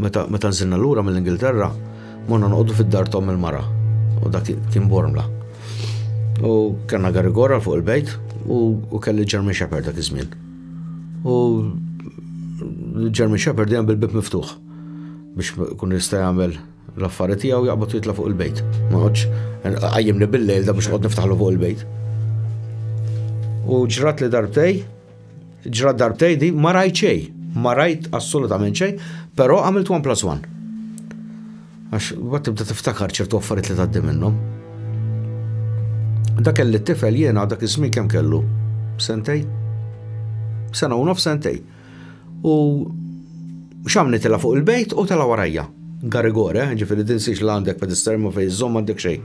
Meta meta nżilna lura mill-Ingilterra, morna noqogħdu fid-dar t'omm il-mara, u dak kien Bormla. U kellna Garigor għal fuq il-bejt u kelli German Shepherd dak iż-żmien. U German Shepherd dejjem bil-bieb miftuħ biex kun jista' jagħmel l-affari tiegħu jaqbad jitla' fuq il-bejt. Ma noqgħodx qajjimni bil-lejl da biex noqgħod niftaħlu fuq il-bejt. U ġrat li darbtej, Ġra darbtej di ma rajt xej, ma rajt assolutament xej, però għamilt 1 plus 1. Għax, bat tibda tiftakar ċertu affarijiet li taddi minnhom. Da kelli t-tifel jiena dak iż-żmien kemm kellu? Sentej? Sena u nof sentej. U xamni tela fuq il-bejt u tela warajja. Garigore, eh, ġifiri dinsiex l għandek pedester ma fej zom għandek xej.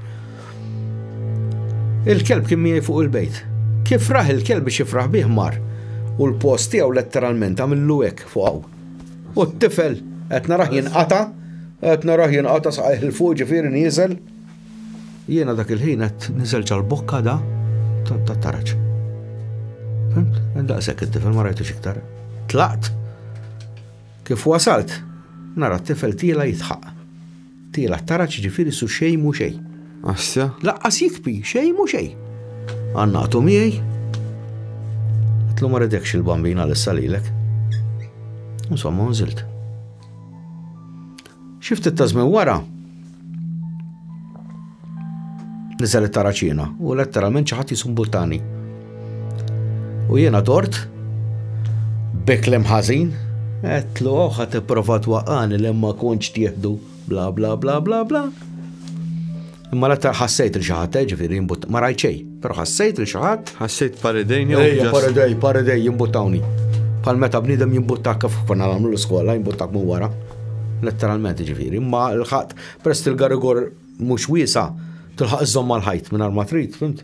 Il-kelb kien miegħi fuq il-bejt. Kif raħ il-kelb biex jifraħ bih mar u l-post tiegħu letteralment għamillu hekk fuqaw. U t-tifel qed naraħ jinqata, qed naraħ jinqata saqajh il-fuq ġifieri nieżel. Jiena dak il-ħin qed niżel ġal-bokka da tat-taraġ. Fimt? Daqshekk it-tifel ma rajtux iktar. Tlaqt. Kif wasalt, nara t-tifel tiela jitħaq. Tiela t-taraġ ġifieri su xejn mu xejn. Assja? Laqqas jikpi, xejn mu xejn. Għannaqtu miegħi. Tlu ma redekx il-bambina l-issa lilek. Insomma, nżilt. Xi ftit ta' żmien wara, niżel it-taraċina u letteralment xi ħadd jisu mbultani. U jiena dort, beklem ħażin, għetlu oħħa tipprova twaqqani li ma kontx tieħdu bla bla bla bla bla. Imma l-aktar ħassejt li xi ħadd, eh, ġifieri jimbut, ma rajt xejn, però ħassejt li xi ħadd. Ħassejt paridejn jew Ejja, just- paridej, paridej jimbuttawni. Bħal meta bniedem jimbuttak kif konna nagħmlu l-iskola, jimbuttak minn wara. Letteralment ġifieri, imma l-ħadd prest il-garigor mhux wiesa, tilħaq iżżomm mal-ħajt minn ma trid, fimt?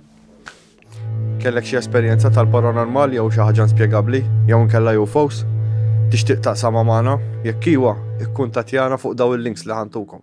Kellek xi esperjenza tal-paranormal jew xi ħaġa inspjegabbli jew inkella UFOs? Tixtieq taqsama magħna? Jekk iwa, ikkuntattjana fuq daw il-links li ħantukom.